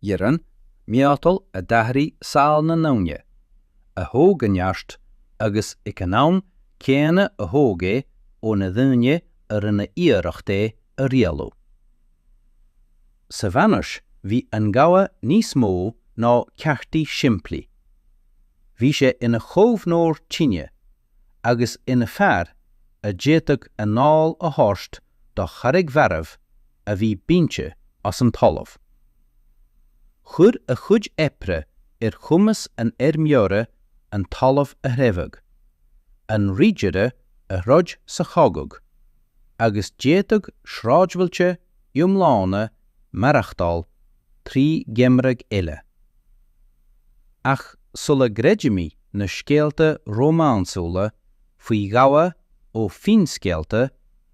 iarann, miotal a d'athraigh saol na ndaoine, a thóg a neart agus ag an am céanna a thóg é ó na daoine a rinne iarracht é a rialú. Sa mheánaois bhí an gabha níos mó ná ceardaí simplí. Bhí sé ina chaomhnóir tine agus ina fhear a d'fhéadfadh anáil a thabhairt do charraig mharbh a bhí bainte as an talamh. Chuir a chuid oibre ar chumas an fheirmeora an talamh a threabhadh, an ridire a throid sa chogadh, agus d'fhéadfadh sráidbhailte iomlána maireachtáil trí gheimreadh eile. Ach sula gcreidimid na scéalta rómánsúla faoi ghabha ó finscéalta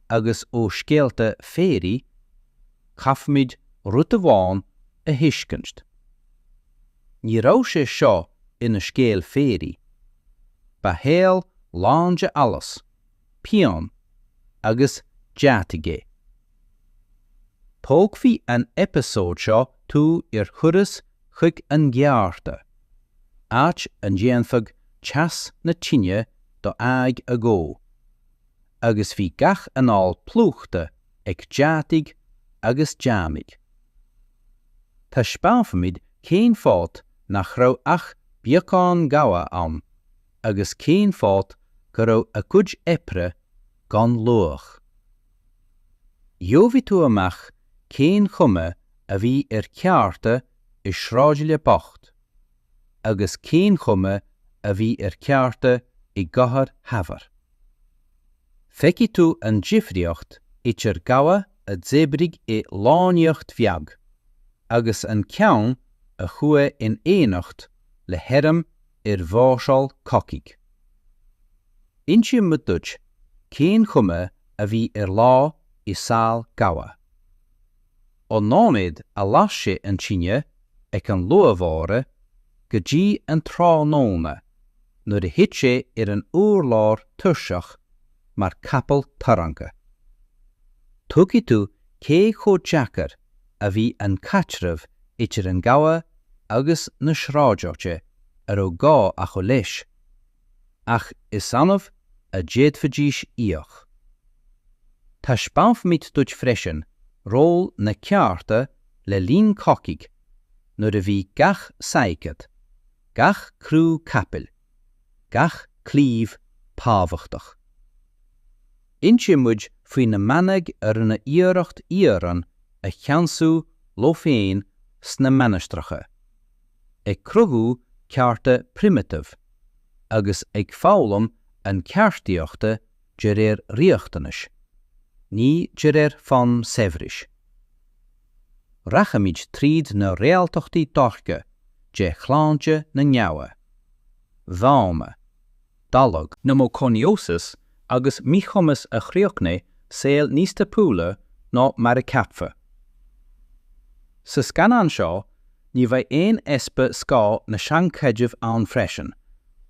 agus ó scéalta féaraí, caithfimid rud amháin a thuiscint. Ní raibh sé seo ina scéal féaraí. Ba shaol lán de allais, pian agus deataigh é. Tógfaidh an eipeasóid seo tú ar thuras chuig an gceárta, áit a ndéanfadh teas na tine do aghaidh a dhó, agus bhí gach anáil plúchta ag deataigh agus deannaigh. Taispeánfaimid cén fáth nach raibh ach beagán gabha ann, agus cén fáth go raibh a gcuid oibre gan luach. Gheobhaidh tú amach cén chuma a bhí ar cheárta i sráidbhaile bocht agus cén chuma a bhí ar cheárta i gcathair shaibhir. Feicfidh tú an difríocht idir gabha a d'oibrigh i lonnaíocht bheag agus an ceann a chuaidh in éineacht le hairm ar mháirseáil cogaidh. Inseoimid duit cén chuma a bhí ar lá i saol gabha. Ón nóiméad a las sé an tine ag an luath bháire go dtí an tráthnóna nuair a thit sé ar an urlár tuirseach mar capall tarraingthe. Tuigfidh tú cé chomh deacair a bhí an caitreamh idir an gabha agus na sráideachta a raibh gá acu leis, ach is annamh a d'fhéadfaidís íoc. Taispeánfaimid duit freisin ról na ceárta le linn cogaidh nuair a bhí gach saighead, gach crú capaill, gach claíomh tábhachtach. Inseoidh muid faoi na manaigh a rinne iarracht iarann a cheansú leo féin sna mainistreacha, ag cruthú ceártaí primitive agus ag foghlaim na ceardaíochta de réir riachtanais, ní de réir fonn saibhris. Rachaimid tríd na réaltachtaí dorcha de shláinte na ngaibhne, dónna, daille, niúmacóinióis agus míchumas a chríochnaigh saol níos tapúla ná mar a ceapfa. Sa scannán seo ní bheidh aon easpa scáth na seanchreideamh ann freisin,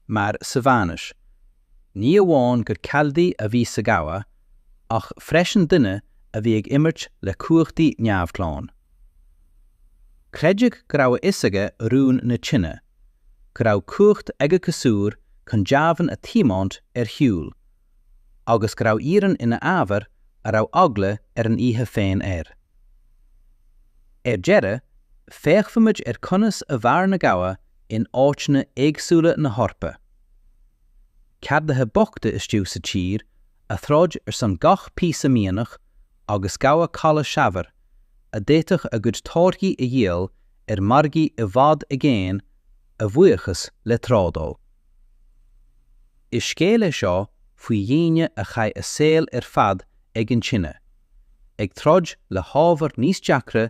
mar sa Mheánaois, Ní amháin gur ceardaí a bhí sa ghabha ach freisin duine a bhí ag imirt le cumhachtaí neamhghlan. Creideadh go raibh a fhios aige rún na tine, go raibh cumhacht ag a chasúr chun deamhain a thiomáint ar shiúl, agus go raibh iarann ina ábhar a raibh eagla ar an oíche féin air. Ar deireadh, féachfaimid ar conas a mhair na gabha in áiteanna éagsúla na hEorpa. ceardaithe bochta istigh sa tír a throid ar son gach píosa mianach agus gabha caladh saibhir a d'fhéadfadh a gcuid táirgí a dhíol ar mhargaí i bhfad i gcéin a bhuíochas le trádáil. Is scéal é seo faoi dhaoine a chaith a saol ar fad ag an tine, ag troid le hábhar níos deacra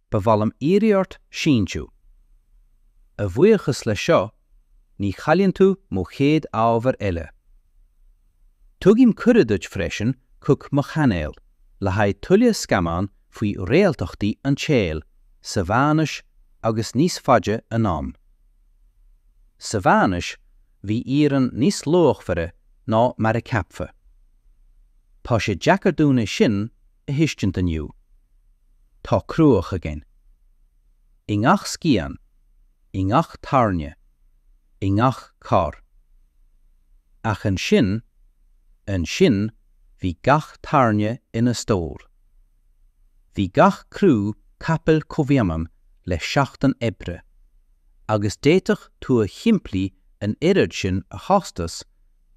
Ba mhaith liom iarraidh ort síntiú. A bhuíochas leis seo, ní chailleann tú mo chéad ábhar eile. Tugaim cuireadh duit freisin chuig mo chainéal le haghaidh tuilleadh scannán faoi réaltachtaí an tsaoil sa Mheánaois agus níos faide anonn. Sa Mheánaois, bhí iarann níos luachmhaire ná mar a ceapfa. Tá sé deacair dúinn é sin a thuiscint inniu. Tá cruach againn. I ngach scian, i ngach tairne, i ngach carr. Ach ansin, ansin bhí gach tairne ina stór. Bhí gach crú capaill comhionann le seachtain oibre, agus d'fhéadfadh tua shimplí an oiread sin a chostas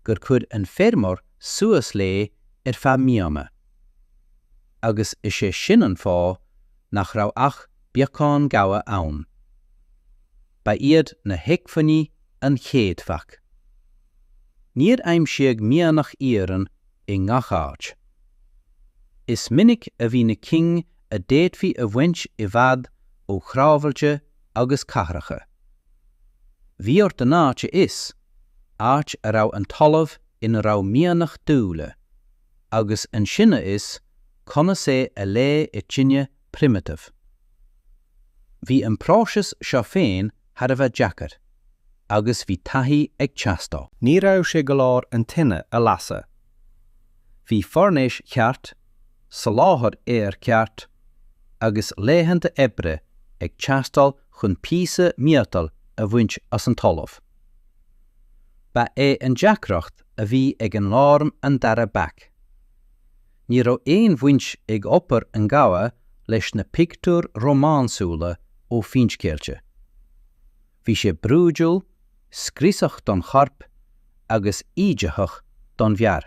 gur chuir an feirmeoir suas léi ar feadh míonna. Agus is é sin an fáth nach raibh ach beagán gabha ann. Ba iad na hacmhainní an chéad bhac. Níor aimsíodh mianach iarainn i ngach áit. Is minic a bhí na cinn a d'fhéadfaí a bhaint i bhfad ó shráidbhailte agus cathracha. Bhí ort an áit a fhios, áit a raibh an talamh ina raibh mianach dóite, agus ansin a fhios conas é a leá i tine primitive. Bhí an próiseas seo féin thar a bheith deacair, agus bhí taithí ag teastáil. Ní raibh sé go leor an tine a lasadh. Bhí foirnéis cheart, soláthar aeir ceart, agus laethanta oibre ag teastáil chun píosa miotail a bhaint as an talamh. Ba é an deacracht a bhí ag an lámh an dara bac. Ní raibh aon bhaint ag obair an ghabha leis na pictiúir rómánsúla ó finscéalta. Bhí sé brúidiúil, scriosach don chorp agus íditheach don fhear.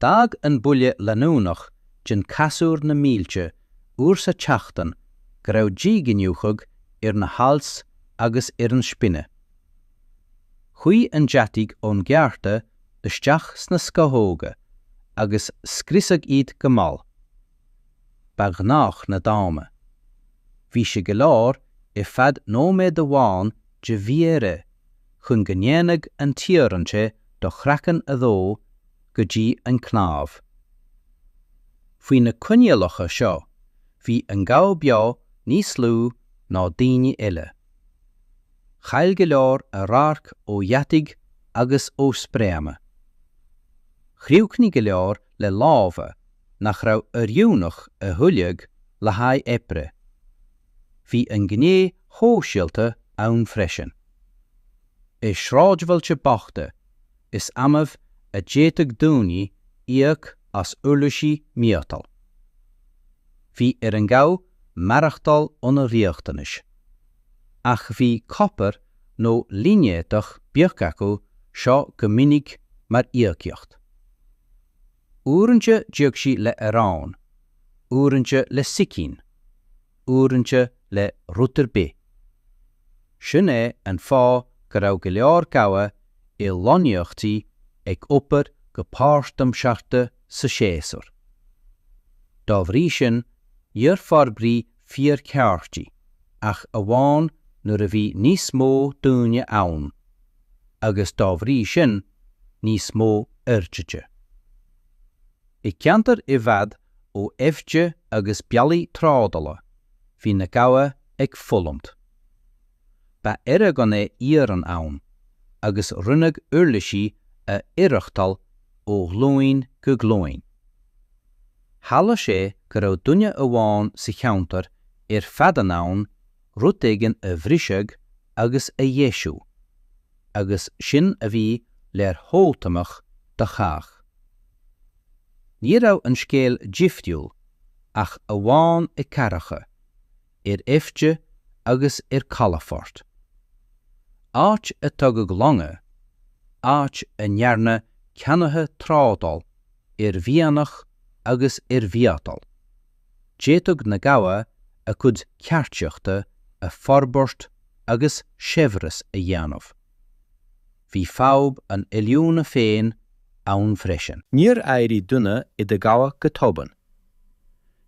D'fhág an buille leanúnach den casúr na mílte uair sa tseachtain go raibh díghiniúchán ar na hailt agus ar an spine. Chuaidh an deatach ón gceárta isteach sna scamhóga agus scriosadh iad go mall. Ba ghnách na dónna. Bhí sé go leor ar feadh nóiméad amháin de mhí-aire chun go ndéanfadh an t-iarann te do chraiceann a dhó go dtí an cnámh. Faoi na coinníollacha seo, bhí an gabha beo níos lú ná daoine eile. Chaill go leor a radharc ó dheataigh agus ó spréacha. Chríochnaigh go leor le lámha nach raibh oiriúnach a thuilleadh le haghaidh oibre. Bhí an ghné shóisialta ann freisin. I sráidbhailte bochta, is annamh a d'fhéadfadh daoine íoc as uirlisí miotail. Bhí ar an ghabha maireachtáil óna riachtanais. Ach bhí copar nó línéadach beag acu seo go minic mar íocaíocht. Uaireanta d'íoc sí le arán, uaireanta le sicín. uaireanta le rud ar bith. Sin é an fáth go raibh go leor gabha i lonnaíochtaí ag obair go páirtaimseartha sa séasúr. Dá bhrí sin níor forbraíodh fíorcheártaí ach amháin nuair a bhí níos mó daoine ann agus dá bhrí sin níos mó orduithe. I gceantair i bhfad ó aibhte agus bealaigh trádala, bhí na gabha ag fulaingt. Ba earra gann é iarann ann, agus rinneadh uirlisí a oidhreachtáil ó ghlúin go glúin. Tharla sé go raibh duine amháin sa cheantar ar fad in ann rud éigin a bhriseadh agus a dheisiú, agus sin a bhí leordhóthanach do chách. Ní raibh an scéal difriúil ach amháin i gcathracha, ar aibhte agus ar calafoirt. Áit a dtugadh longa, áit a ndearna ceannaithe trádáil ar mhianach agus ar mhiotal, d'fhéadfadh na gabha a gcuid ceardaíochta a forbairt agus saibhreas a dhéanamh. Bhí fadhb an oiliúna féin ann freisin. Níor éirigh duine i do ghabha go tobann.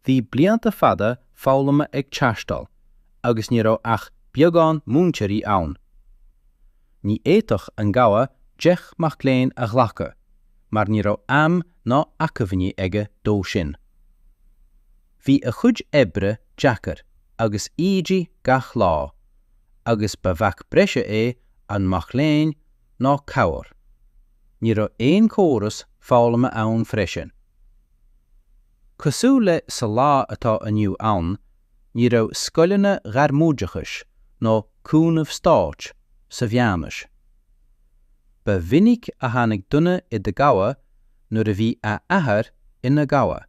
Bhí blianta fada foghlama ag teastáil agus ní raibh ach beagán múinteoirí ann. Ní fhéadfadh an gabha deich mac léinn a ghlacadh mar ní raibh am ná acmhainní aige dó sin. Bhí a chuid oibre deacair agus ídigh gach lá, agus ba bhac breise é an mac léinn ná cabhair. Ní raibh aon córas foghlama ann freisin. Cosúil le sa lá atá inniu ann, ní raibh scoileanna ghairmoideachais nó cúnamh stáit sa mheánaois. Ba mhinic a tháinig duine i do ghabha nuair a bhí a athair ina ghabha.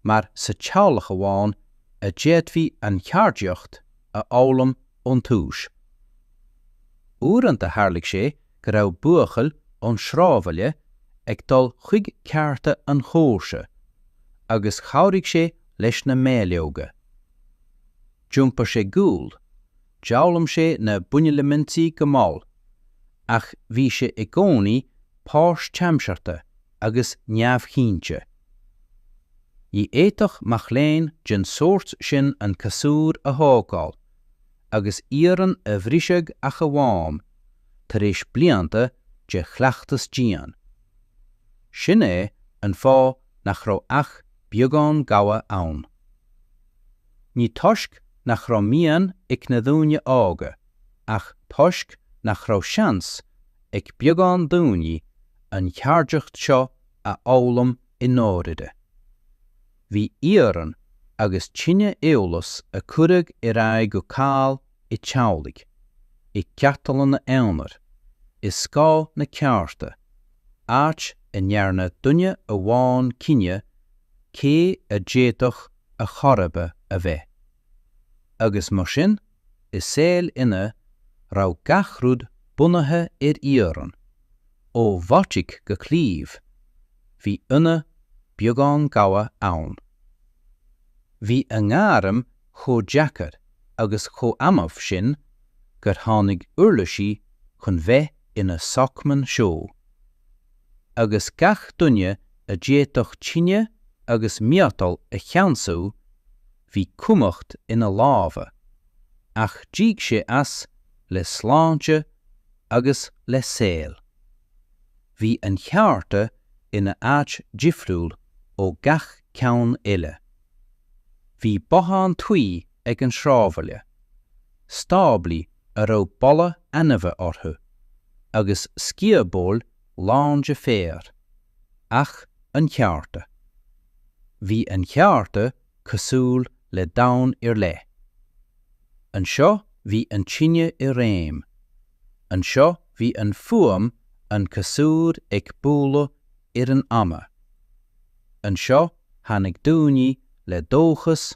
mar sa teaghlach amháin a d'fhéadfaí an cheardaíocht a fhoghlaim ón túis. Uaireanta tharlaigh sé go raibh buachaill ón sráidbhaile ag dul chuig ceárta an chomharsa agus chabhraigh sé leis na méarleoga. D'iompar sé gual, D'fhoghlaim sé na buneilimintí go mall, ach bhí sé i gcónaí páirtaimseartha agus neamhchinnte. Ní fhéadfadh mac léinn den sórt sin an casúr a thógáil, agus iarann a bhriseadh ach amháin tar éis blianta de chleachtas dian. Sin é an fáth nach raibh ach beagán gabha ann. Ní toisc nach raibh mian ag na daoine óga ach toisc nach raibh seans ag beagán daoine an cheardaíocht seo a fhoghlaim i ndáirire. Bhí iarann agus tine eolas a cuireadh ar aghaidh go caol i dteaghlaigh, i gceardlanna aonair, i scáth na ceárta, áit a ndearna duine amháin cinneadh cé a d'fhéadfadh a a chomharba a bheith. Agus mar sin, i saol ina raibh gach rud bunaithe ar iarann, ó mhatóg go claíomh, bhí ionadh beagán gabha ann. Bhí a ngairm chomh deacair agus chomh annamh sin gur tháinig uirlisí chun bheith ina sócmhainn seo. agus gach duine a d'fhéadfadh tine agus miotal a cheansú, bhí cumhacht ina lámha, ach d'íoc sé as le sláinte agus le saol. Bhí an cheárta ina áit difriúil ó gach ceann eile. Bhí bothán tuí ag an sráidbhaile. stáblaí a raibh boladh ainmhithe orthu, agus sciobóil lán de féar, ach an cheárta. Bhí an cheárta cosúil le domhan ar leith. Anseo bhí an tine i réim, anseo bhí an fuaim an casúr ag bualadh ar an adhmad, anseo tháinig daoine le dóchas,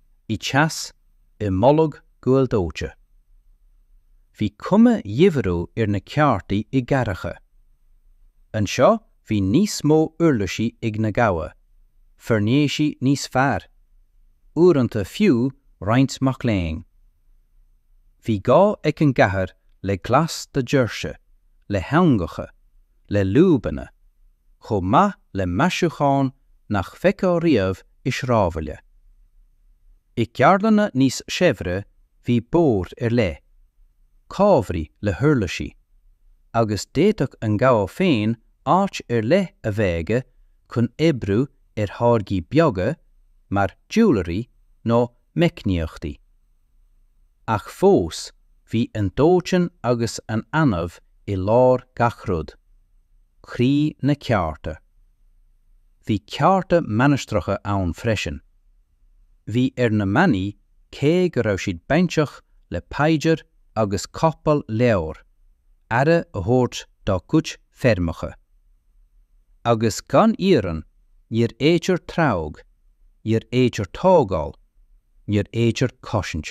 i dteas i mboladh guail dóite. Bhí cuma dhifriúil ar na ceártaí i gcathracha. Anseo bhí níos mó uirlisí ag na gabha, foirnéisí níos fearr, uaireanta fiú roinnt mac léinn. Bhí gá ag an gcathair le glas do dhoirse, le heangacha, le lúbanna, chomh maith le maisiúcháin nach bhfeicfeá riamh i sráidbhaile. I gceardlanna níos saibhre bhí boird ar leith, cábhraí le huirlisí, agus d'fhéadfadh an gabha féin áit ar leith a bheith aige chun oibriú ar tháirgí beaga mar jewellery nó meicníochtaí. Ach fós bhí an dóitean agus an inneoin i lár gach rud. Croí na ceárta. Bhí ceárta mainistreacha ann freisin. Bhí ar na manaigh cé go raibh siad bainteach le paidir agus cóipeáil leabhar, aire a thabhairt dá gcuid feirmeacha. Agus gan iarann níor fhéidir treabhadh, níor fhéidir tógáil, níor fhéidir cosaint.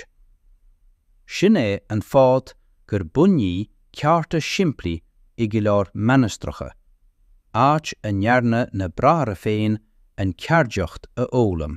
Sin é an fáth gur bunaíodh ceártaí simplí i go leor mainistreacha, áit a ndearna na bráithre féin an cheardaíocht a fhoghlaim.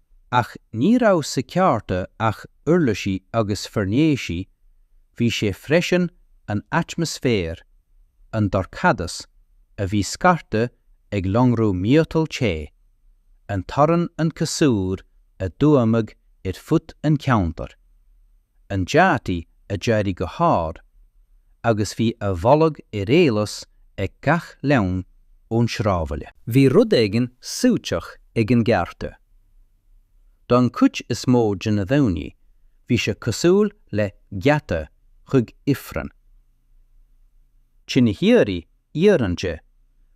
Ach ní raibh sa cheárta ach uirlisí agus foirnéisí, bhí sé freisin an atmaisféar, an dorchadas a bhí scartha ag lonradh miotal te, an torann an casúr a d'fhuaimeadh ar fud an cheantair. an deatach a d'éirigh go hard agus bhí a bholadh ar eolas ag gach leanbh ón sráidbhaile. Bhí rud éigin suaiteach ag an gceárta. Don chuid is mó de na daoine bhí sé cosúil le geata chuig Ifreann. Tine shíoraí iarann te,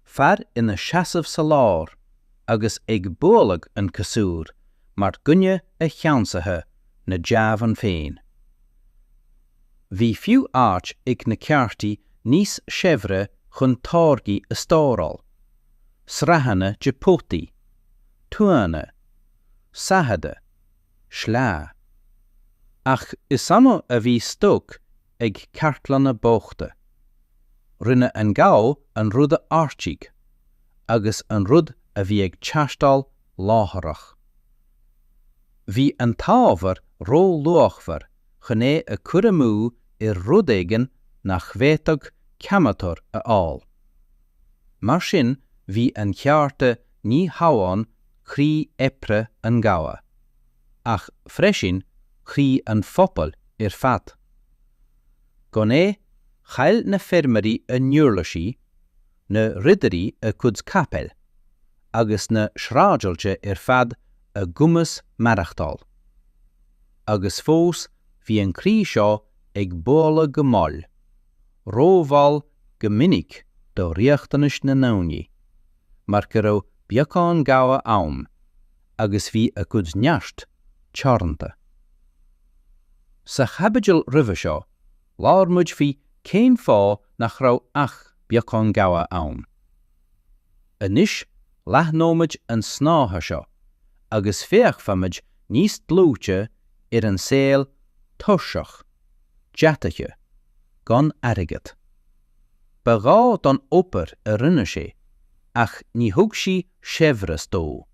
fear ina seasamh sa lár agus ag bualadh an casúr mar dhuine a cheannsaithe na deamhain féin. Bhí fiú áit ag na ceártaí níos saibhre chun táirgí a stóráil, sraitheanna de pótaí, tuanna, saigheada, sleánna. Ach is annamh a bhí stoc ag ceártlanna bochta. Rinne an gabha an rud a ordaigh agus an rud a bhí ag teastáil láithreach. Bhí an t-ábhar ró-luachmhar chun é a cur amú ar rud éigin nach bhféadfadh ceannaitheoir a fháil. Mar sin bhí an cheárta ní hamháin croí oibre an ghabha, ach freisin croí an phobail ar fad. Gan é, chaill na feirmeoirí a n-uirlisí, na ridirí a gcuid capaill, agus na sráidbhailte ar fad a gcumas maireachtáil. Agus fós bhí an croí seo ag bualadh go mall, rómhall go minic do riachtanais na ndaoine, mar go raibh beagán gabha ann, agus bhí a gcuid neart teoranta. Sa chaibidil roimhe seo, labhair muid faoi cén fáth nach raibh ach beagán gabha ann. Anois, leathnóimid an snáithe seo agus féachfaimid níos dlúite ar an saol tuirseach, deataithe, gan airgead. Ba ghá don obair a rinne sé ach ní thug sí saibhreas dó.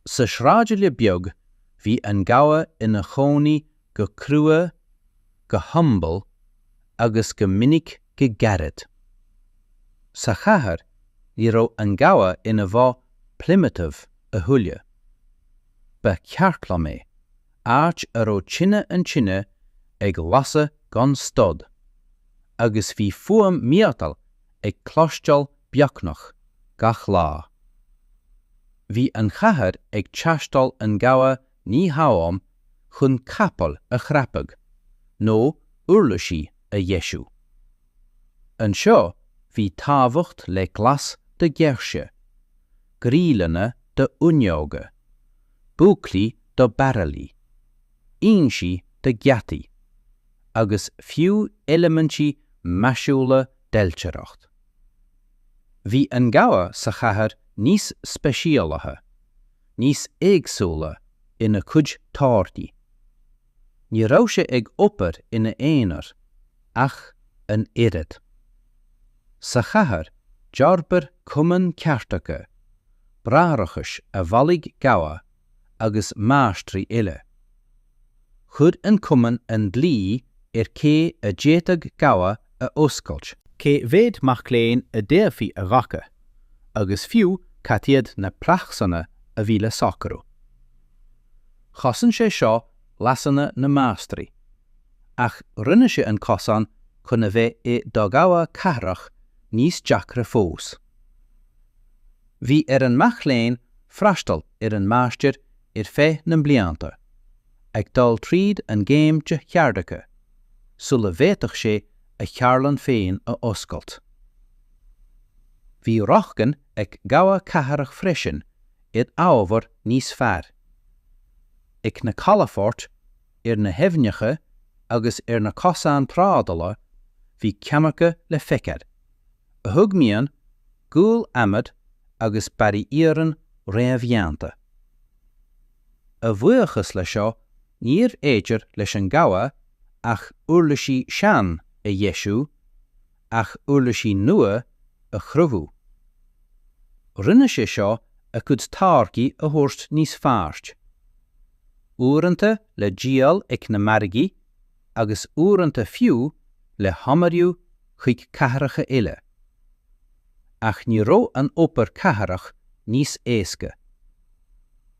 Sa sráidbhaile beag bhí an gabha ina chónaí go crua, go humble, agus go minic go gairid. Sa chathair ní raibh an gabha ina bhoth primitive a thuilleadh. Ba cheardlann é áit a raibh tine an tine ag lasadh gan stad, agus bhí fuaim miotail ag cloisteáil beagnach gach lá. Bhí an chathair ag teastáil an gabha ní hamháin chun capaill a chrapadh nó uirlisí a dheisiú. Anseo bhí tábhacht le glas do dhoirse, gríleanna do fhuinneoga, búclaí do bairillí, insí do gheataí, agus fiú eilimintí maisiúla d'ailtireacht. Bhí an gabha sa chathair níos speisialaithe, níos éagsúla ina cuid táirgí. Ní raibh sé ag obair ina aonar ach an oiread. Sa chathair d'fhorbair cumainn ceardaithe, bráithreachais a bhailigh gabha agus máistrí eile. Chuir an Cumann an dlí ar cé a d'fhéadfadh gabha a oscailt. Cé mhéad mac léinn a d'fhéadfaí a ghlacadh agus fiú cad iad na praghsanna a bhí le socrú. Chosain sé seo leasanna na máistrí. Ach rinne sé an cosán chun a bheith i do ghabha cathrach níos deacra fós. Bhí ar an mac léinn freastal ar an máistir ar feadh na blianta, ag dul tríd an gcéim de cheardaithe, sula bhféadfadh sé a cheardlann féin a oscailt. Bhí rochtain ag gabha cathrach freisin ar ábhar níos fearr. Ag na calafoirt ar na haibhneacha agus ar na cosáin trádála bhí ceannaithe le feiceáil, a thug mian, gual, adhmad agus barraí iarainn réamhdhéanta. A bhuíochas le seo níorbh fhéidir leis an gabha ach uirlisí sean a dheisiú ach uirlisí nua a chruthú. Rinne sé seo a cuid táirgí a thabhairt níos fearr, uaireanta le díol ag na margaí agus uaireanta fiú le honnmhairiú chuig cathracha eile. Ach ní raibh an obair cathrach níos éasca.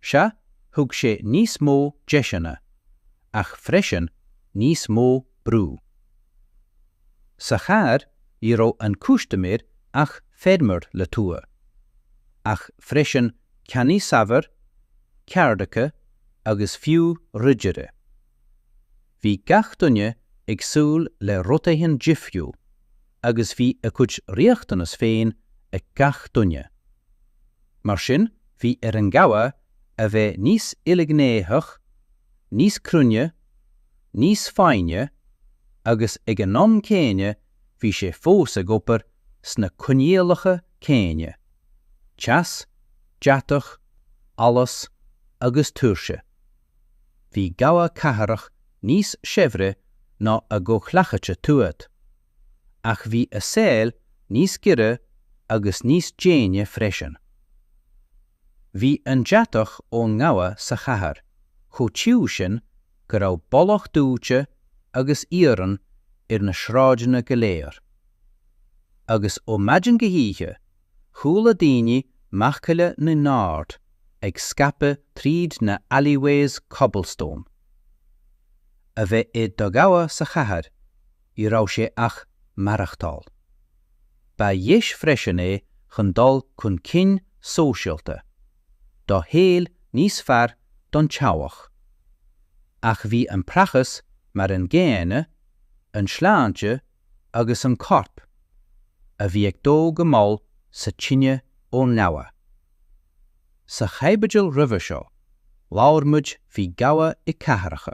Sea, thug sé níos mó deiseanna, ach freisin níos mó brú. Sa chathair ní raibh an cústiméir ach feirmeoir le tua, ach freisin ceannaí saibhir, ceardaithe agus fiú ridire. Bhí gach duine ag súil le rud éigin difriúil agus bhí a gcuid riachtanas féin ag gach duine. Mar sin bhí ar an ghabha a bheith níos ilghnéitheach, níos cruinne, níos foighne agus ag an am céanna bhí sé fós ag obair sna coinníollacha céanna, teas, deatach, allas agus tuirse. Bhí gabha cathrach níos saibhre ná a gcomhghleacaithe tuaithe. ach bhí a saol níos giorra agus níos déine freisin. Bhí an deatach ón ngabha sa chathair chomh tiubh sin go raibh boladh dóite agus iarann ar na sráideanna go léir. Agus ó mhaidin go hoíche, chuala daoine macalla na n-ord ag scaipeadh tríd na alleyways cobblestone. A bheith i do ghabha sa chathair, ní raibh sé ach maireachtáil. Ba dheis freisin é chun dul chun cinn sóisialta, do shaol níos fearr don teaghlach. Ach bhí an praghas mar an gcéanna, an tsláinte agus an corp, a bhí ag dó go mall sa tine ón ngabha. Sa chaibidil roimhe seo, labhair muid faoi gabha i gcathracha,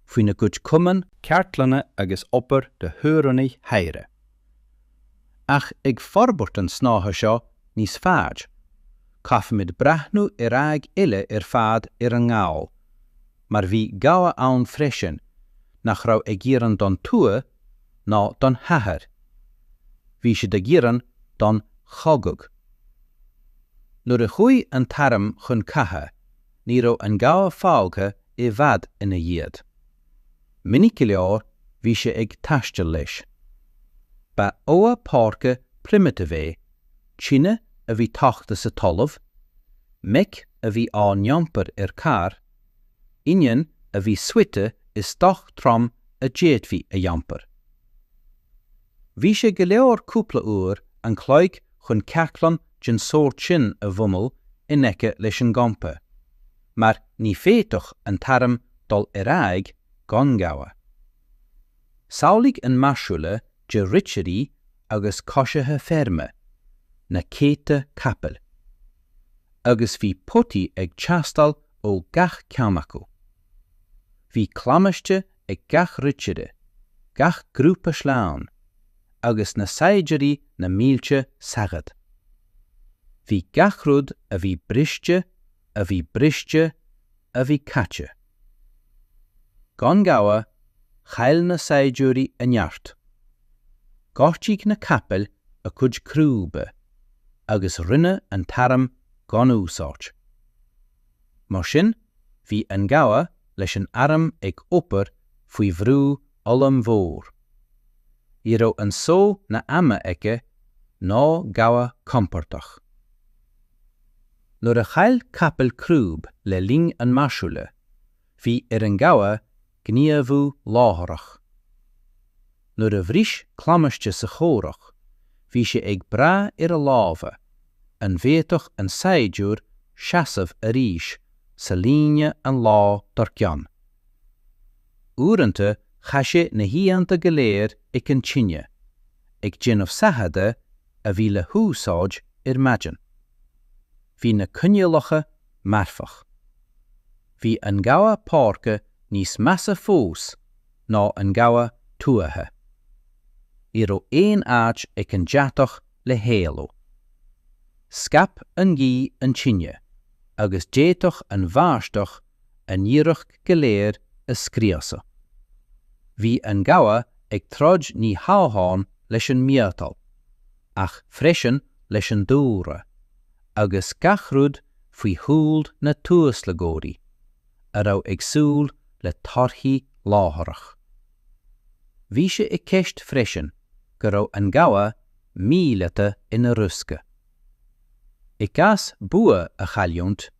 faoina gcuid cumann, ceardlanna agus obair do thiarnaí shaibhre, ach ag forbairt an snáithe seo níos faide, caithfimid breathnú ar aghaidh eile ar fad ar an ngabha, mar bhí gabha ann freisin nach raibh ag iarann don tuath ná don chathair, bhí siad ag iarann don chogadh. Nuair a chuaidh an t-arm chun catha ní raibh an gabha fágtha i bhfad ina dhiaidh. Minic go leor bhí sé ag taisteal leis. Ba ghabha páirce primitive é, tine a bhí tógtha sa talamh, meic a bhí á n-iompar ar charr, inneoin a bhí suite i stoc trom a d'fhéadfaí a iompar. Bhí sé go leor cúpla uair an chloig chun ceardlann den tsórt sin a bhunú in aice leis an gcampa, mar ní fhéadfadh an t-arm dul ar aghaidh gan gabha. Samhlaigh an mháirseáil de ridirí agus coisithe feirme, na céadta capaill. Agus bhí potaí ag teastáil ó gach ceann acu. Bhí claimhte ag gach ridire, gach grúpa sleánna, agus na saighdiúirí na mílte saighead. Bhí gach rud a bhí briste a bhí briste a bhí caite. Gan gabha, chaill na saighdiúirí a neart. Ghortaigh na capaill a gcuid crúba agus rinne an t-arm gan úsáid. Mar sin, bhí an gabha leis an airm ag obair faoi bhrú ollmhór. Ní raibh an só na hama aige ná gabha compordach. Nuair a chaill capall crúb le linn an mháirseála, bhí ar an gabha gníomhú láithreach. Nuair a bhris clamaisce sa chomhrac, bhí sé ag brath ar a lámha, an bhféadfadh an saighdiúir seasamh arís sa líne an lá dár gcionn? Uaireanta chaith sé na hoícheanta go léir ag an tine, ag déanamh saigheada a bhí le húsáid ar maidin. Bhí na coinníollacha marfach. Bhí an gabha páirce níos measa fós ná an gabha tuaithe. Ní raibh aon áit ag an deatach le héalú. Scaip an ghaoth an tine agus d'fhéadfadh an bháisteach an iarracht go léir a scriosadh. Bhí an gabha ag troid ní hamháin leis an miotal, ach freisin leis an dúlra, agus gach rud faoi shúil na tuaslagóirí a raibh ag súil le torthaí láithreach. Bhí sé i gceist freisin go raibh an gabha míleata ina riosca. I gcás bua a chailliúint,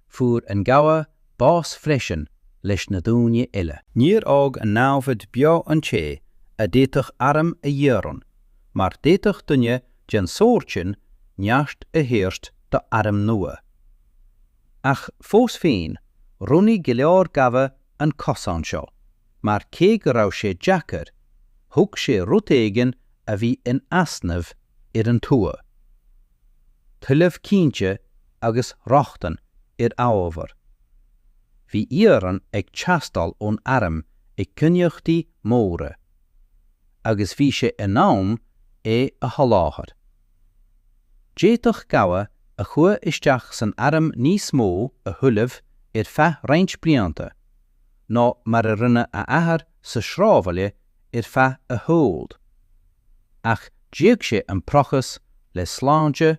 Fuair an gabha bás freisin leis na daoine eile. Níor fhág an namhaid beo an té a d'fhéadfadh airm a dhéanamh mar d'fhéadfadh duine den sórt sin neart a thabhairt do airm nua. Ach fós féin roghnaigh go leor gabha an cosán seo mar cé go raibh sé deacair thug sé rud éigin a bhí in easnamh ar an tuath. Tuilleamh cinnte agus rochtain ar amhábhar. Bhí iarann ag teastáil ón airm i gcainníochtaí móra, agus bhí sé in ann é a sholáthar. D'fhéadfadh gabha a chuaigh isteach san airm níos mó a thuilleamh ar feadh roinnt blianta ná mar a rinne a athair sa sráidbhaile ar feadh a shaoil, ach d'íoc sé an praghas le sláinte,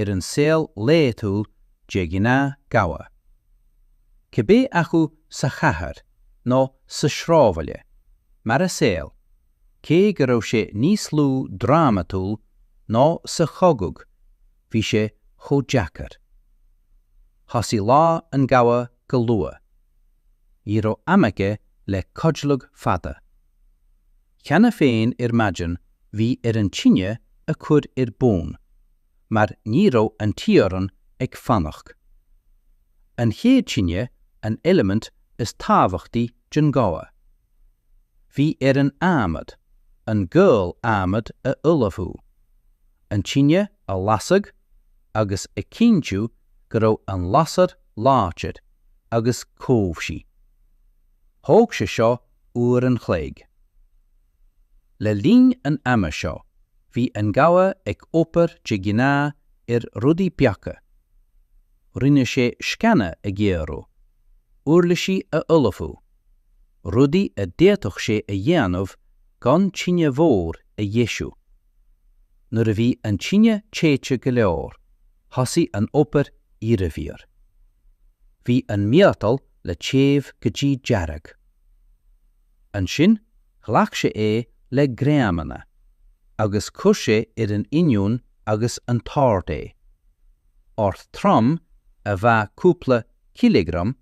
ar an saol laethúil de ghnáth gabha. Cibé acu sa chathair nó sa sráidbhaile, mar a saol, cé go raibh sé níos lú drámatúil ná sa chogadh bhí sé chomh deacair. Thosaigh lá an gabha go luath. Ní raibh am aige le codladh fada. Cheana féin ar maidin bhí air an tine a chur ar bun mar ní raibh an t-iarrann ag fanacht. An chéad tine an eilimint is tábhachtaí den gabha. Bhí air an adhmad an gual adhmad a ullmhú, an tine a lasadh agus a chinntiú go raibh an lasair láidir agus cobhsaí. Thóg sé seo uair an chloig. Le linn an ama seo bhí an gabha ag obair de ghnáth ar rudaí beaga. Rinne sé sceana a ghéarú, uirlisí a ullmhú, rudaí a d'fhéadfadh sé a dhéanamh gan tine mhór a dheisiú. Nuair a bhí an tine téite go leor, thosaigh an obair iarbhír. Bhí an miotal le téamh go dtí dearg. Ansin ghlac sé é le greamanna agus chuir sé ar an inneoin agus an t-ord é. Ord trom a mheá cúpla cileagram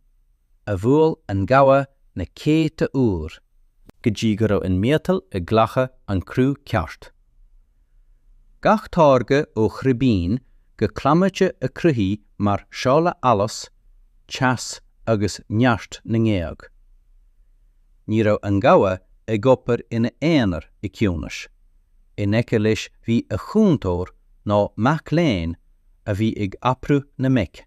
a bhuail an gabha na céadta uair, go dtí go raibh an miotal ag glachadh an cruth ceart. Gach táirge ó chribín go clamhnaite a cruthaítí mar séala allas, teas agus neart na ngéag. Ní raibh an gabha ag obair ina aonar i ciúnas. In aice leis bhí a chúntóir nó mac léinn a bhí ag oibriú na mbeic.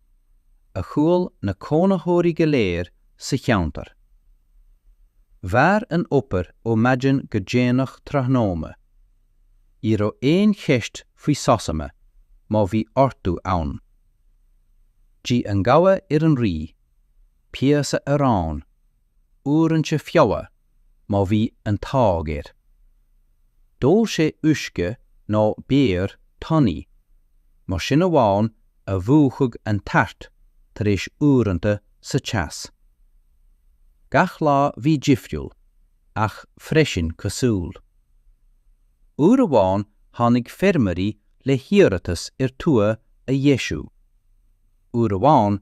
a chuala na cónaitheoirí go léir sa cheantar. Mhair an obair ó maidin go déanach tráthnóna. Ní raibh aon cheist faoi sosanna má bhí orthu ann. D'ith an gabha ar an rith, píosa arán uaireanta feola má bhí an t-ádh air. D'ól sé uisce ná beoir tanaí, mar sin amháin a mhúchfadh an tart tar éis uaireanta sa teas. Gach lá bhí difriúil, ach freisin cosúil. Uair amháin tháinig feirmeoirí le hiarratas ar tua a dheisiú. Uair amháin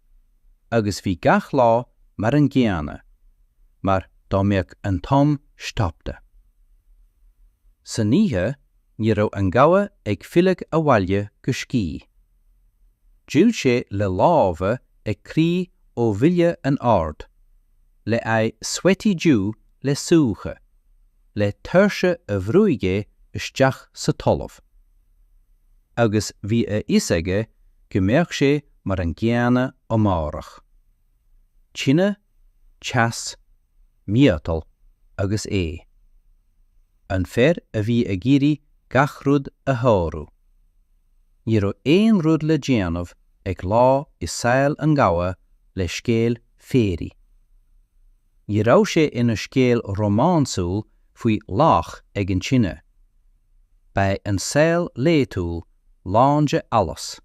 agus bhí gach lá mar an gcéanna mar dá mbeadh an t-am stoptha san oíche ní raibh an gabha ag filleadh abhaile go scíth. D'fhill sé le lámha ag crith ó bhuille an oird, le aghaidh sweaty dubh le súiche. le tuirse a bhrúigh é isteach sa talamh. Agus bhí a fhios aige go mbeadh sé mar an gcéanna amárach. Tine, teas, miotal agus é. An fear a bhí ag iarraidh gach rud a shárú. Ní raibh aon rud le déanamh ag lá i saol an ghabha le scéal féaraigh. Ní raibh sé in a scéal rómánsúil faoi laoch ag an tine. Ba é an saol laethúil lán d'allas,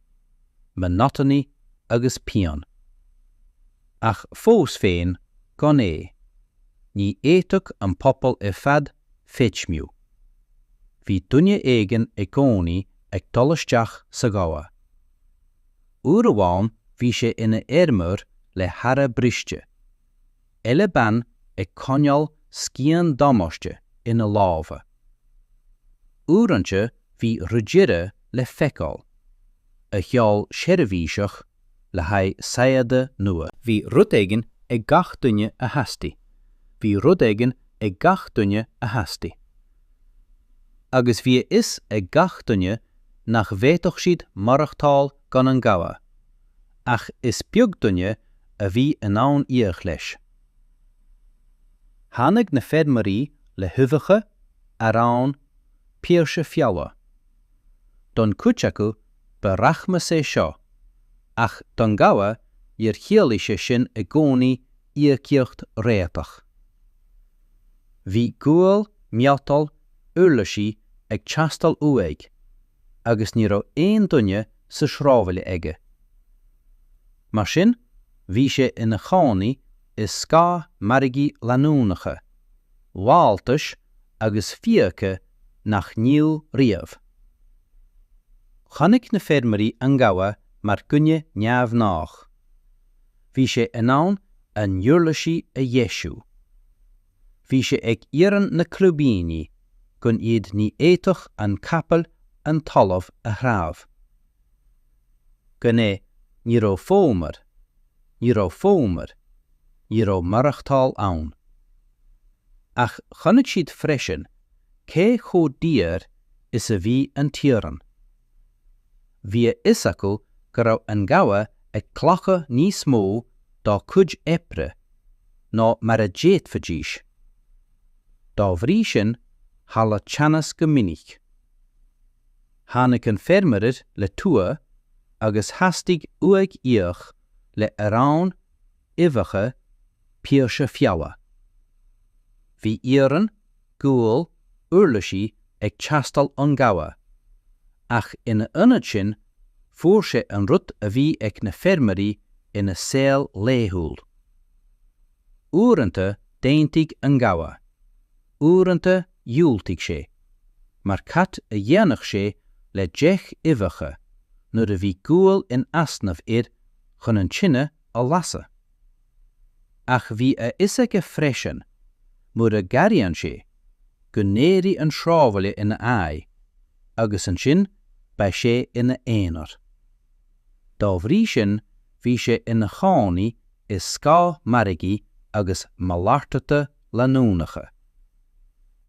monotony agus pian. Ach fós féin gan é, ní fhéadfadh an pobal ar fad feidhmiú. Bhí duine éigin i gcónaí ag dul isteach sa ghabha. Uair amháin bhí sé in a fheirmeoir le hára briste. eile bean ag coinneáil scian damáiste in a lámha. Uaireanta bhí ridire le feiceáil, a sheol seirbhíseach le haghaidh saigheada nua. Bhí rud éigin ag gach duine a theastaigh, bhí rud éigin ag gach duine a theastaigh. Agus bhí a fhios ag gach duine nach bhféadfadh siad maireachtáil gan an ghabha, Ach is beag duine a bhí in ann íoc leis. Tháinig na feirmeoirí le huibheacha, arán, píosa feola. Don gcuid acu ba rachmas é seo, ach don gabha níor chiallaigh sé sin i gcónaí íocaíocht réatach. Bhí gual, miotal, uirlisí ag teastáil uaidh, agus ní raibh aon duine sa sráidbhaile aige. Mar sin, bhí sé in a chónaí i scáth margaí leanúnacha, lamháltais agus fiacha nach n-íoc riamh. Chonaic na feirmeoirí an gabha mar dhuine neamhghnách. Bhí sé in ann a n-uirlisí a dheisiú. bhí sé ag iarrann na crúibíní gan iad ní fhéadfadh an capall an talamh a threabhadh. Gan é, ní raibh fómar, ní raibh fómar, ní raibh maireachtáil ann. Ach chonaic siad freisin cé chomh daor is a bhí an t-iarann. Bhí a fhios acu go raibh an gabha ag glacadh níos mó dá cuid oibre ná mar a d'fhéadfaidís. Dá bhrí sin tharla teannas go minic. Tháinig an feirmeoir le tua agus theastaigh uaidh íoc le arán, uibheacha, píosa feola. Bhí iarann, gual, uirlisí ag teastáil ón gabha, ach ina ionad sin fuair sé an rud a bhí ag na feirmeoirí ina saol laethúil. Uaireanta d'aontaigh an gabha, uaireanta dhiúltaigh sé, mar cad a dhéanfadh sé le deich uibheacha nuair a bhí gual in easnamh air chun an tine a lasadh? Ach bhí a fhios aige freisin, mura gcabhraíonn sé, go n-éireoidh an sráidbhaile ina aghaidh, agus ansin beidh sé ina aonar. Dá bhrí sin bhí sé ina chónaí i scáth margaí agus malartata leanúnacha.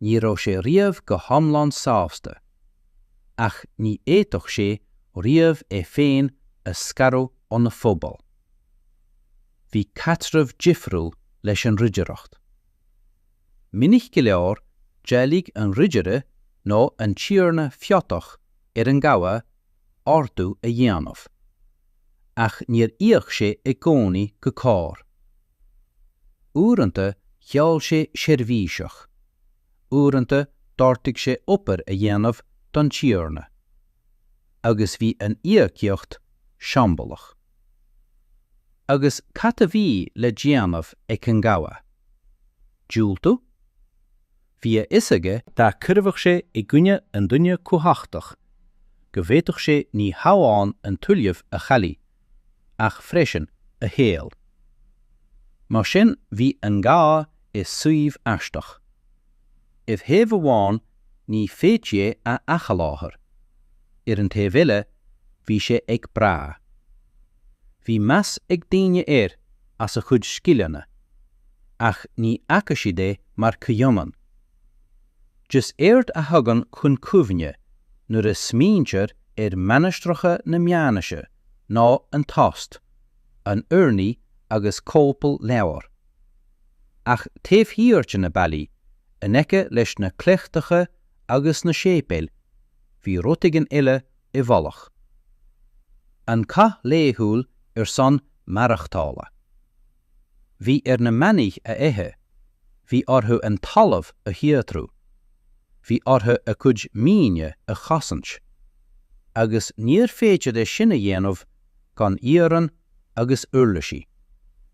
Ní raibh sé riamh go hiomlán sásta, ach ní fhéadfadh sé riamh é féin a scaradh óna phobal. Bhí caidreamh difriúil leis an ridireacht. Minic go leor d'éiligh an ridire nó an tiarna feodach ar an gabha ordú a dhéanamh. Ach níor íoc sé i gcónaí go cóir. Uaireanta gheall sé seirbhísí, uaireanta d'ordaigh sé obair a dhéanamh don tiarna. Agus bhí an íocaíocht siombalach. Agus cad a bhí le déanamh ag an gabha? Diúltú? Bhí a fhios aige, dá gcuirfeadh sé i gcoinne an duine cumhachtach go bhféadfadh sé ní hamháin an tuilleamh a chailleadh ach freisin a shaol. Mar sin bhí an gabha i suíomh aisteach. Ar thaobh amháin ní féidir é a athsholáthar. Ar an taobh eile bhí sé ag brath. Bhí meas ag daoine air as a chuid scileanna. Ach ní fhaca siad é mar chomhionann. Is éard a thagann chun cuimhne nuair a smaointear ar mhainistreacha na meánaoise ná an tost, an urnaí agus cóipeáil leabhar. Ach taobh thiar de na ballaí, in aice leis na cleachtacha agus na séipéil, bhí rud éigin eile i bhfolach. An cath laethúil ar son maireachtála. Bhí ar na manaigh a ithe, bhí orthu an talamh a shaothrú, bhí orthu a gcuid maoine a chosaint. Agus níor féidir é sin a dhéanamh gan iarann agus uirlisí.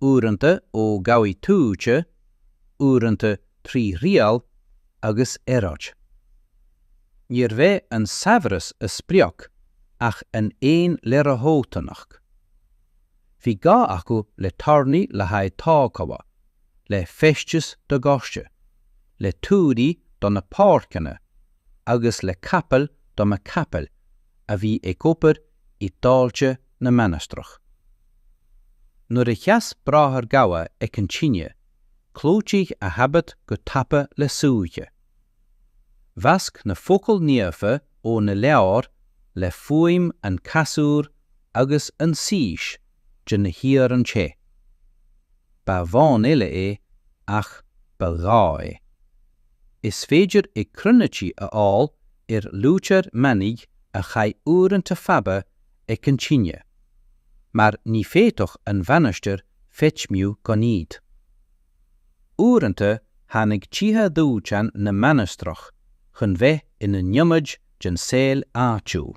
uaireanta ó gabhaí tuaithe, uaireanta trí thriail agus earráid. Níorbh é an saibhreas a sprioc ach an fhéin-leordhóthanacht. Bhí gá acu le tairní le haghaidh tógála, le feisteas do gcóiste, le tuairí do na páirceanna agus le capaill do na capaill a bhí ag obair i dtailte na mainistreach. Nuair a sheas Bráthair Gabha ag an tine, clúdaigh a habit go tapa le súiche. Mheasc na focail naofa ó na leabhair le fuaim an chasúir agus an sís de na hiarainn te. Ba bhán eile é ach ba ghá é. Is féidir i gcroinicí a fháil ar luaitear manaigh a chaith uaireanta fada ag an tine, mar ní féadfadh an mhainistir feidhmiú gan iad. Uaireanta tháinig tithe dóiteáin na mainistreach chun bheith ina n-ionaid den saol áitiúil.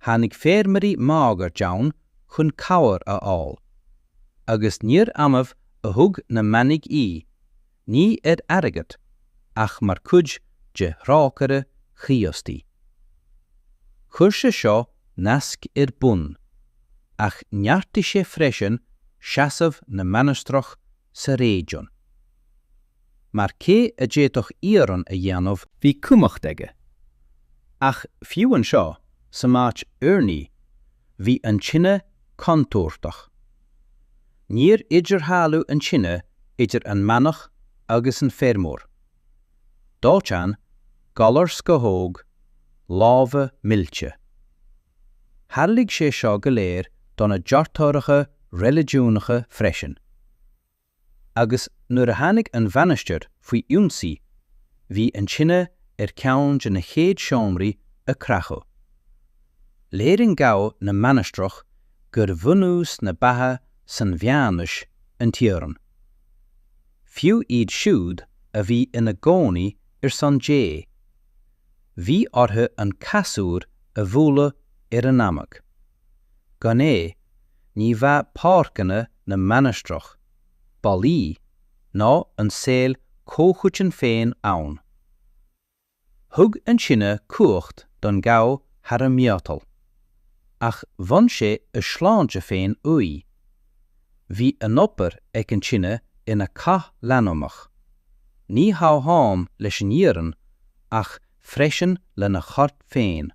tháinig feirmeoirí máguaird ann chun cabhair a fháil. Agus níorbh annamh a thug na manaigh í, ní ar airgead, ach mar chuid de thrócaire Chríostaí. Chuir sé seo nasc ar bun, ach neartaigh sé freisin seasamh na mainistreach sa réigiún. mar cé a d'fhéadfadh iarann a dhéanamh? Bhí cumhacht aige. Ach fiú anseo san áit urnaí bhí an tine contúirteach. Níor idirdhealú an tine idir an manach agus an feirmeoir. Dóiteán, galar scamhóg, lámha millte. Tharlaigh sé seo go léir do na deartháireacha reiligiúnacha freisin. Agus nuair a tháinig an mhainistir faoi ionsaí bhí an tine ar cheann de na chéad seomraí a creachadh. Léiríonn gabha na mainistreach gur bhunús na beatha san mheánaois an t-iarann. Fiú iad siúd a bhí ina gcónaí ar son Dé, bhí orthu an casúr a bhualadh ar a ndamaic. Gan é, ní bheadh páirceanna na mainistreach, ballaí, ná an saol comhchoiteann féin ann. Thug an tine cumhacht don gabha thar an miotal. Ach bhain sé a shláinte féin uaidh. Bhí an obair ag an tine ina cath leanúnach. Ní hamháin leis an iarann ach freisin lena chorp féin.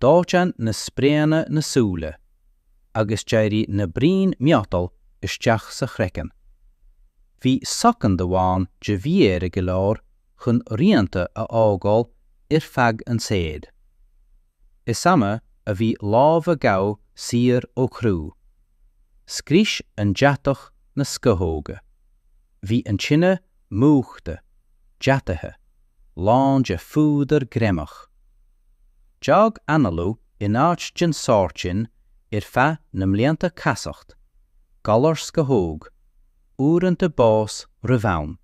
Dóiteán na spréanna na súile agus d'éirigh na braoin miotal isteach sa chraiceann. Bhí soicind amháin de mhí-aire go leor chun rianta a fhágáil ar feadh an tsaoil. Is annamh a bhí lámh an ghabha saor ó chrú. Scrios an deatach na scamhóga. Bhí an tine múchta, deataithe, lán de phúdar greimeach. D'fhág análú in áit den sórt sin ar feadh na mblianta casacht, galar scamhóg, uaireanta bás roimh am.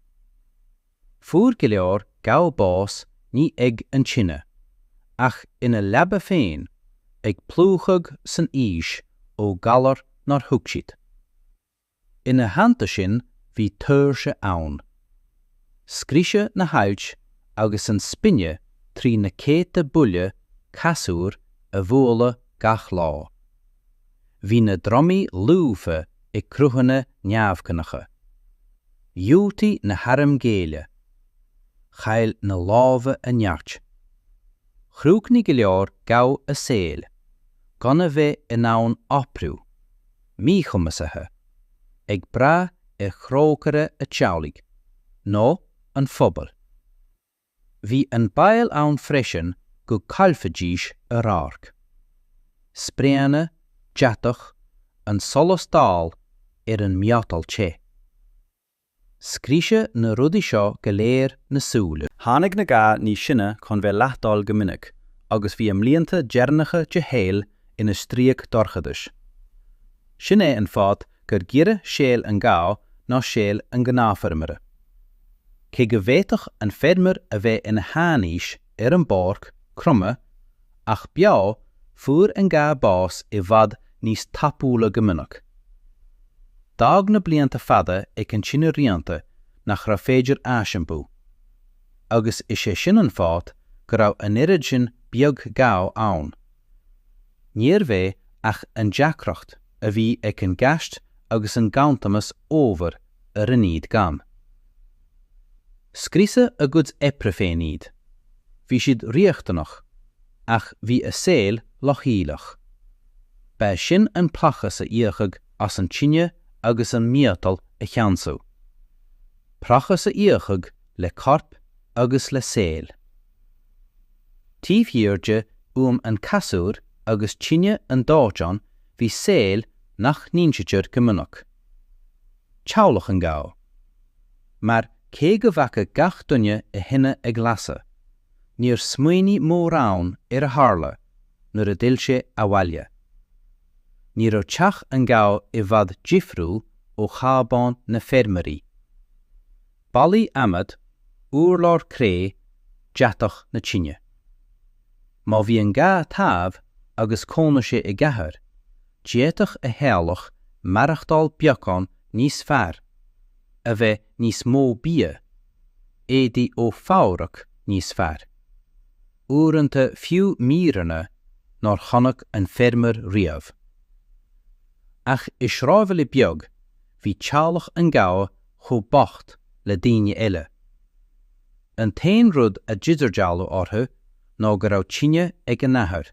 Fuair go leor gabha bás ní ag an tine, ach ina leaba féin, ag plúchadh san aois ó ghalar nár thuig siad. Ina theannta sin bhí tuirse ann. Scriosadh na hailt agus an spine trí na céadta buille casúir a bhualadh gach lá. Bhí na dromaí lúbtha ag cruthanna neamhghnácha. Dhiúltaigh na hairm géilleadh. Chaill na lámha a neart. Chríochnaigh go leor gabha a saoil gan a bheith in ann oibriú. míchumasaithe, ag brath ar thrócaire a teaghlaigh, nó an phobail. Bhí an baol ann freisin go gcaillfidís a radharc. Spréanna, deatach, an solas dall ar an miotal te. Scriosadh na rudaí seo go léir na súile. Tháinig na gabha níos sine chun bheith leath-dall go minic agus bhí a mblianta deireannacha de shaol ina stríoc dorchadais. Sin é an fáth gur giorra saol an gabha ná saol an ghnáthfheirmeora. Cé go bhféadfadh an feirmeoir a bheith ina sheanaois ar an bpáirc, cromadh, ach beo, fuair an gabha bás i bhfad níos tapúla go minic. D'fhág na blianta fada ag an tine rianta nach raibh féidir aisiompú. Agus is é sin an fáth go raibh an oiread sin beag gabha ann. Níorbh é ach an deacracht a bhí ag an gceist agus an ganntanas ábhair a rinne iad gann. Scriosadh a gcuid oibre féin iad. Bhí siad riachtanach, ach bhí a saol leochaileach. Ba é sin an praghas a íocadh as an tine agus an miotal a cheansú. Praghas a íocadh le corp agus le saol. Taobh thiar de fhuaim an chasúir agus tine an dóiteáin bhí saol nach n-insítear go minic. teaghlach an gabha. Mar cé go bhfaca gach duine a thine ag lasadh, níor smaoinigh mórán ar a tharla nuair a d'fhill sé abhaile. Ní raibh teach an ghabha i bhfad difriúil ó chábán na feirmeoirí. Ballaí adhmaid, urlár cré, deatach na tine. Má bhí an gabha taobh agus cónaigh sé i gcathair, D'fhéadfadh a theaghlach maireachtáil beagán níos fearr, a bheith níos mó bia, éadaí ó fhabraic níos fearr. Uaireanta fiú míreanna nár chonaic an feirmeoir riamh. Ach i sráidbhaile beag bhí teaghlach an gabha chomh bocht le daoine eile. An t-aon rud a d'idirdhealú orthu ná go raibh tine ag a n-athair.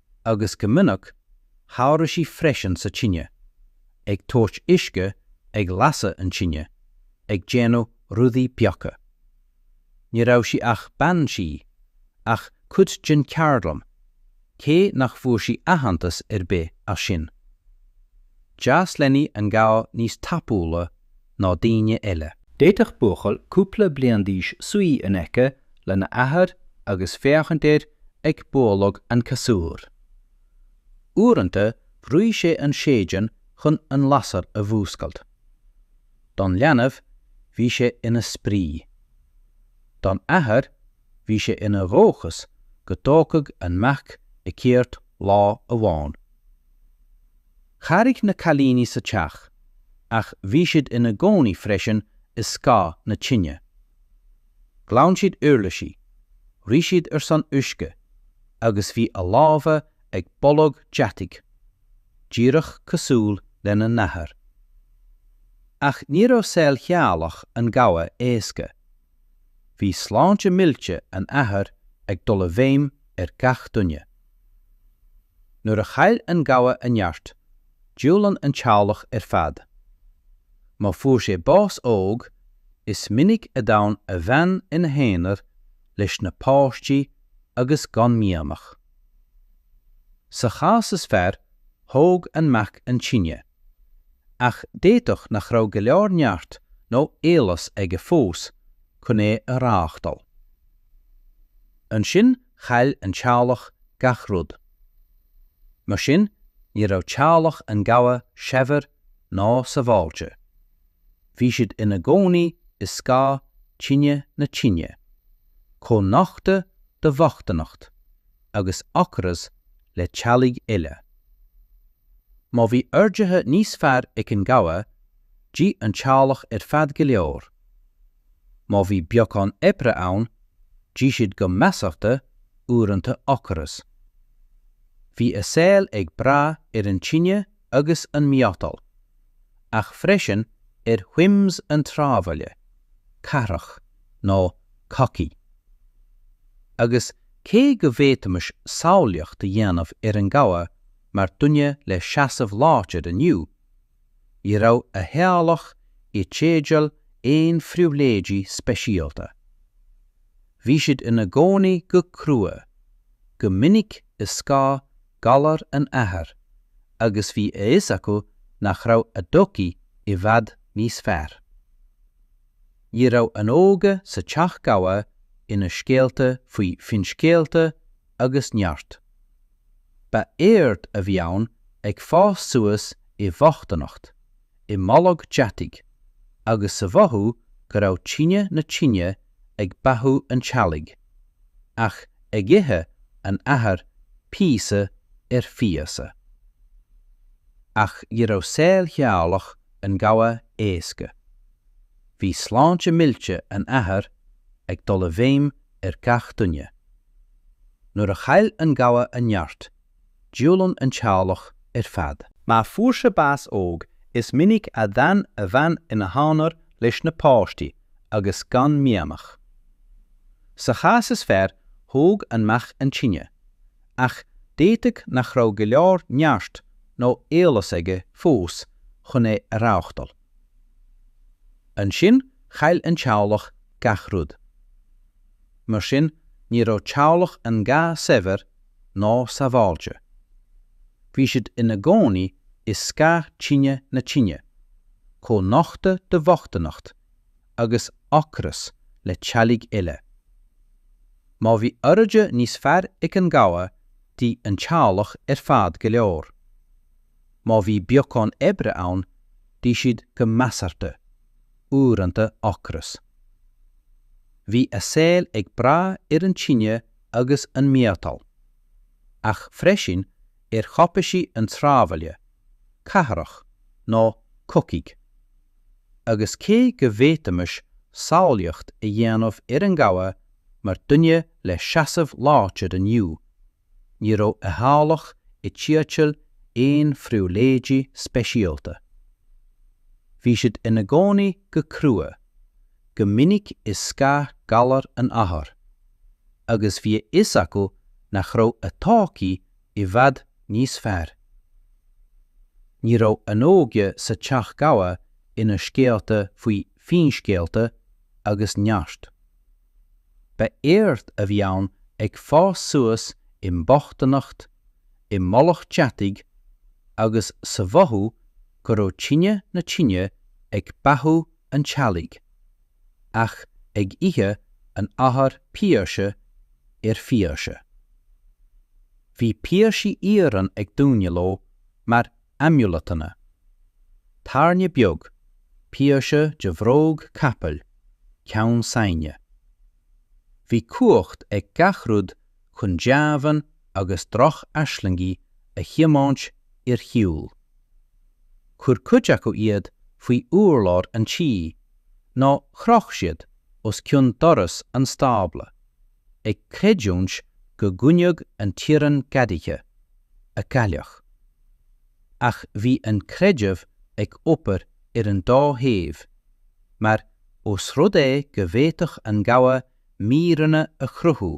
agus go minic chabhraigh sí freisin sa tine, ag tabhairt uisce, ag lasadh an tine, ag déanamh rudaí beaga. Ní raibh sí ach bean tí, ach cuid den cheardlann, cé nach bhfuair sí aitheantas ar bith as sin. D'fhás leanaí an gabha níos tapúla ná daoine eile. D'fhéadfadh buachaill cúpla bliain d'aois suí in aice lena athair agus féachaint air ag bualadh an chasúir. Uaireanta bhrúigh sé an séideán chun an lasair a mhúscailt. Don leanbh, bhí sé ina spraoi. Don athair, bhí sé ina dhóchas go dtógfadh an mac a cheird lá amháin. Chabhraigh na cailíní sa teach, ach bhí siad ina gcónaí freisin i scáth na tine. Ghlan siad uirlisí, rith siad ar son uisce, agus bhí a lámha ag boladh deataigh, díreach cosúil lena n-athair. Ach ní raibh saol theaghlach an gabha éasca. Bhí sláinte millte an athar ag dul i bhfeidhm ar gach duine. Nuair a chaill an gabha a neart, d'fhulaing an teaghlach ar fad. Má fuair sé bás óg, is minic a d'fhan a bhean ina haonar leis na páistí agus gan mianach. Sa chás is fearr, thóg an mac an tine. Ach d'fhéadfadh nach raibh go leor neart nó eolas aige fós chun é a reáchtáil. Ansin chaill an teaghlach gach rud. Mar sin ní raibh teaghlach an ghabha saibhir ná sabháilte. Bhí siad ina gcónaí i scáth tine na tine, chomh nochta do bhochtaineacht agus ocras le teaghlaigh eile. Má bhí orduithe níos fearr ag an gabha, d'ith an teaghlach ar fad go leor. Má bhí beagán oibre ann, d'ith siad go measartha, uaireanta ocras. Bhí a saol ag brath ar an tine agus an miotal, ach freisin ar whims an tsráidbhaile, cathrach, nó cogaidh Agus cé go bhféadfaimis samhlaíocht a dhéanamh ar an ngabha mar duine le seasamh láidir inniu, ní raibh a theaghlach i dteideal aon phribhléidí speisialta. Bhí siad ina gcónaí go crua, go minic i scáth galar an athar agus bhí a fhios acu nach raibh a dtodhchaí i bhfad níos fearr. Ní raibh an óige sa teach gabha ina scéalta faoi finscéalta agus neart. Ba éard a bhí ann ag fás suas i mbochtaineacht, i mboladh deataigh, agus sa mhothú go raibh tine na tine ag beathú an teaghlaigh, ach ag ithe an athar píosa ar phíosa. Ach ní raibh saol theaghlach an ghabha éasca. Bhí sláinte millte an athar ag dul i bhfeidhm ar gach duine. Nuair a chaill an gabha a neart, d'fhulaing an teaghlach ar fad. Má fuair sé bás óg, is minic a d'fhan a bhean ina haonar leis na páistí agus gan mianach. Sa chás is fearr, thóg an mac an tine, ach d'fhéadfadh nach raibh go leor neart nó eolas aige fós chun é a reáchtáil. Ansin chaill an teaghlach gach rud. Mar sin ní raibh teaghlach an ghabha saibhir ná sabháilte. Bhí siad ina gcónaí i scáth tine na tine, chomh nochta do bhochtaineacht agus ocras le teaghlaigh eile. Má bhí orduithe níos fearr ag an gabha d'ith an teaghlach ar fad go leor. Má bhí beagán oibre ann d'ith siad go measartha. uaireanta ocras. Bhí a saol ag brath ar an tine agus an mhiotal, ach freisin ar chaipísí an tsráidbhaile, cathrach, nó cogaidh. Agus cé go bhféadfaimis samhlaíocht a dhéanamh ar an ngabha mar dhuine le seasamh láidir inniu, Ní raibh a theaghlach i dteideal aon phribhléidí speisialta. Bhí siad ina gcónaí go crua, go minic i scáth galar an athar, agus bhí a fhios acu nach raibh a dtodhchaí i bhfad níos fearr. Ní raibh an óige sa teach gabha ina scéalta faoi finscéalta agus neart. Ba éard a bhí ann ag fás suas i mbochtanacht, i mboladh deataigh agus sa mhothú go raibh tine na tine ag beathú an teaghlaigh, ach ag ithe an athar píosa ar phíosa. Bhí píosaí iarainn ag daoine leo mar amulatanna, tairne beag, píosa de bhróg capaill, ceann saighde. Bhí cumhacht ag gach rud chun deamhain agus droch-aislingí a thiomáint ar shiúl. Chuir cuid acu iad faoi urlár an tí nó chroch siad os cionn doras an stábla, ag creidiúint go gcoinneodh an t-iarann gadaithe agus cailleach. ach bhí an creideamh ag obair ar an dá thaobh, mar os rud é go bhféadfadh an gabha míreanna a chruthú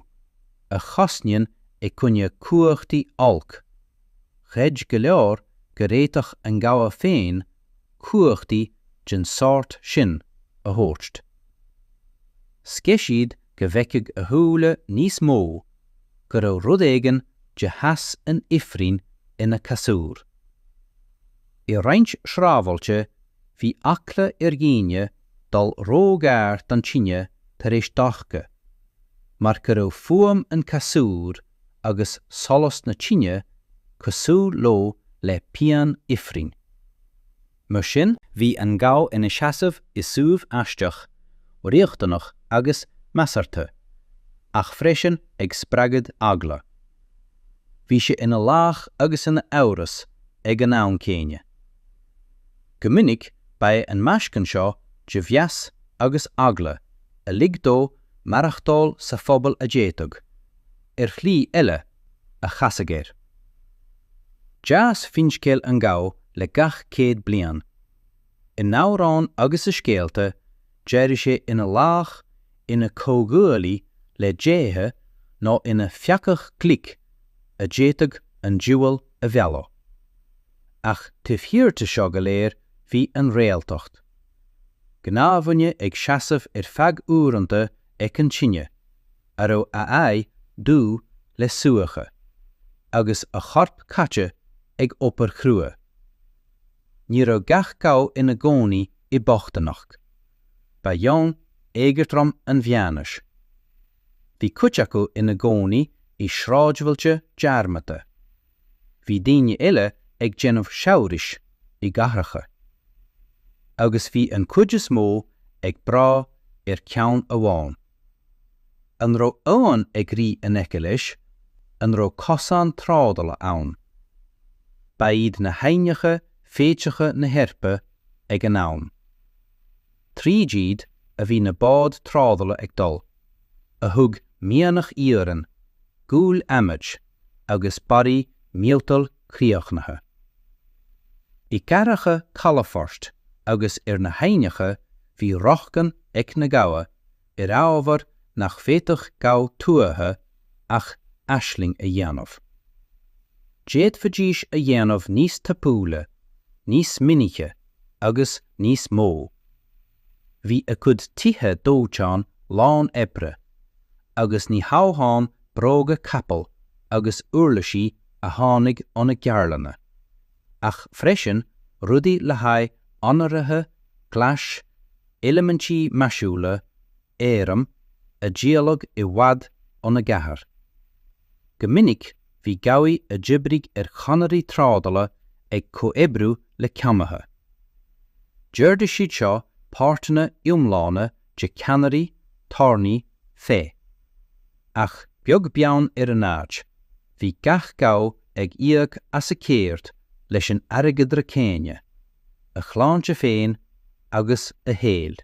a chosnaíonn i gcoinne cumhachtaí oilc, chreid go leor go bhféadfadh an gabha féin cumhachtaí den sórt sin a thabhairt. Scéith siad go bhfeicfeadh a shúile níos mó go raibh rud éigin de theas an ifrinn ina chasúr. I roinnt sráidbhailte bhí eagla ar dhaoine dul róghar don tine tar éis dorcha, mar go raibh fuaim an chasúir agus solas na tine cosúil leo le pian ifrinn. Mar sin bhí an gabha ina sheasamh i suíomh aisteach, riachtanach agus measartha, ach freisin ag spreagadh eagla. Bhí sé ina laoch agus ina amhras ag an am céanna. Go minic ba é an meascan seo de mheas agus eagla a lig dó maireachtáil sa phobal a d'fhéadfadh, ar shlí eile, a chasadh air. D'fhás finscéal an gabha le gach céad bliain. In amhráin agus i scéalta, d'éirigh sé ina laoch, ina chomhghuaillí le déithe nó ina pheacach glic a d'fhéadfadh an diabhal a mhealladh. Ach taobh thiar de seo go léir bhí an réaltacht. Gnáthdhuine ag seasamh ar feadh uaireanta ag an tine. a raibh a aghaidh dubh le súiche agus a chorp caite ag obair chrua. Ní raibh gach gabha ina gcónaí i mbochtaineacht. Ba dhomhan éagothrom an Mheánaois. Bhí cuid acu ina gcónaí i sráidbhailte dearmadta. Bhí daoine eile ag déanamh saibhris i gcathracha. Agus bhí an chuid is mó ag brath ar cheann amháin. An raibh abhainn ag rith in aice leis? An raibh cosán trádála ann? Ba iad na haibhneacha féitheacha na hEorpa ag an am. Tríd iad a bhí na báid trádála ag dul, a thug mianach iarainn, gual adhmaid, agus barraí miotail críochnaithe. I gcathracha calafoirt agus ar na haibhneacha bhí rochtain ag na gabha ar ábhar nach bhféadfadh gabha tuaithe ach aisling a dhéanamh. D'fhéadfaidís a dhéanamh níos tapúla, níos minice agus níos mó. Bhí a cuid tithe dóiteáin lán oibre, agus ní hamháin bróga capaill agus uirlisí a tháinig óna gceardlanna, ach freisin rudaí le haghaidh onnmhairithe, glais, eilimintí maisiúla, airm, a díoladh i bhfad óna gcathair. Go minic bhí gabhaí a d'oibrigh ar chonairí trádála ag comhoibriú le ceannaithe. D'ordaigh siad seo páirteanna iomlána de ceannairí, tairní, fé. Ach beag beann ar an áit, bhí gach gabha ag íoc as a cheird leis an airgeadra céanna, a shláinte féin agus a shaol.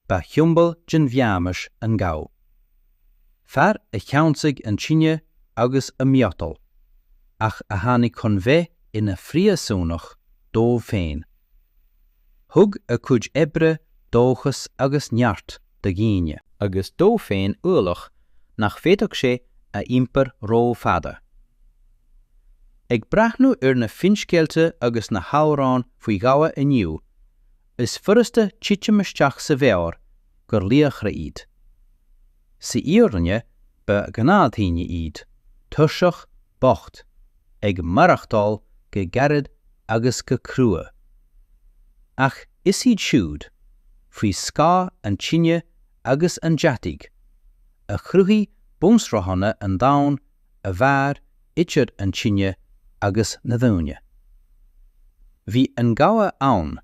Ba shiombail den Mheánaois an gabha. fear a cheansaigh an tine agus an miotal, ach a tháinig chun bheith ina phríosúnach dóibh féin. Thug a cuid oibre dóchas agus neart do dhaoine, agus dó féin ualach nach bhféadfadh sé a iompar rófhada. Ag breathnú ar na finscéalta agus na hamhráin faoi ghabha inniu, is furasta titim isteach sa bheár gur laochra iad. Sa fhírinne ba gnáthdhaoine iad, tuirseach, bocht, ag maireachtáil go gairid agus go cruaidh. Ach is iad siúd, faoi scáth an tine agus an deataigh, a chruthaigh bunsraitheanna an domhain a mhair idir an tine agus na daoine. Bhí an gabha ann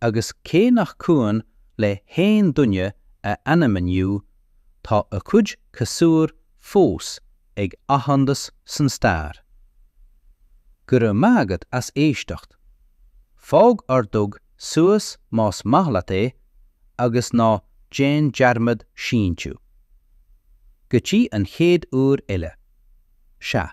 agus cé nach cuimhin le haon duine a ainm inniu tá a cuid casúir fós ag athshondas san stair. Go raibh maith agat as éisteacht. Fág ordóg suas más maith leat é agus ná déan dearmad síntiú. Go dtí an chéad uair eile. Sea.